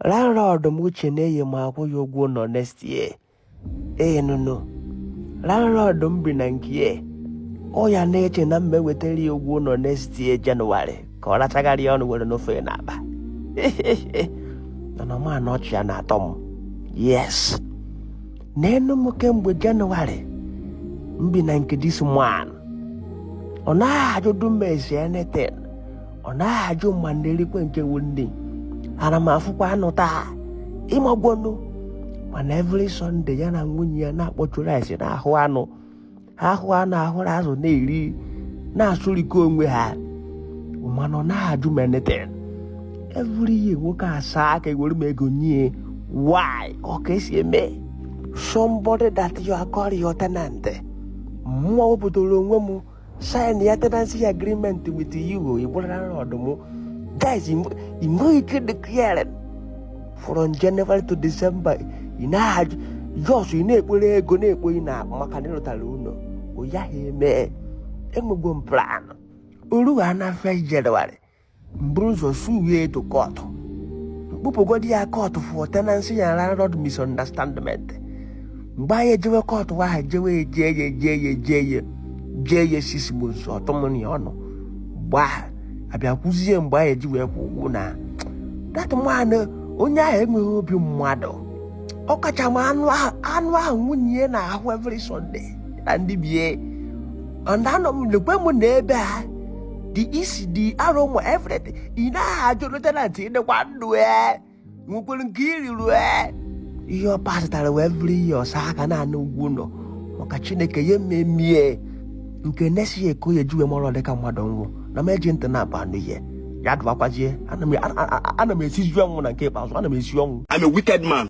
landlord m che na eyi m akwụ ya ụgwọ ụlọ next year ee nụnụ landlord m bi na nke ọ ya na-eche na m ma-ewetara ya ụgwọ ụlọ next year January ka ọ rachagharị ya ọnụ were n'ofe na akpa mana ma na ọchị ya na-atọ m yes nee nụ m kemgbe January m bi na nke this man ọ naghị ajụdụ m ese anything ọ naghị ajụ ma m na-erikwe nke wu nri ana m afụkwa anụ taa ị magonụ mana every Sunday ya na nwunye ya na-akpọchu rice na-ahụ anụ ha ahụ anụ ahụrụ azụ na-eri na-asụrịkọ onwe ha mana ọ naghị ajụ m anything every year nwoke asaa aka ewere m ego nye why ọ ka e si eme somebody that you are calling your tenant mụwa wepụtara onwe m sign ya tenancy agreement with you ị bụrụ landlord m guys ị nweghị ike declare from January to December ị naghị ajụ just ị na-ekporo ego na-ekpo ị na maka na ị rụtara ụlọ ọ yaghị eme enwego m plan o ruha na 1 January m bụrụ ụzọ suwe ya to court m kpụpụgodi ya court for tenancy and landlord misunderstandment mgbe anyị ejewe court ahụ jewe eje ya eje ya eje ya jee ya six months ọtụmụnụ ya ọnụ gbaa abịa kwụzie mgbe anyị eji wee kwụọ ụgwọ na that man onye ahụ enweghị obi mmadụ ọ kacha ma anụ ahụ nwunye ya na-ahụ every Sunday na ndị be ya anọ m lekwe m na ebe a the isi the aroma everything ị naghị ajụ your tenant ị dịkwa ndụ e nwekwere nke i riri ee ihe ọ pasịtara wụ every year ọ saa aka na-ana ụgwọ ụlọ maka chineke ya mmemie nke next year ka ọ ya-eji wee mara dịka mmadụ nwụ na m eji ntị na-abụ anụ ihe ya dụbakwazie ana m esizi ọnwụ na nke ikpeazụ ana m esi ọnwụ I'm a wicked man.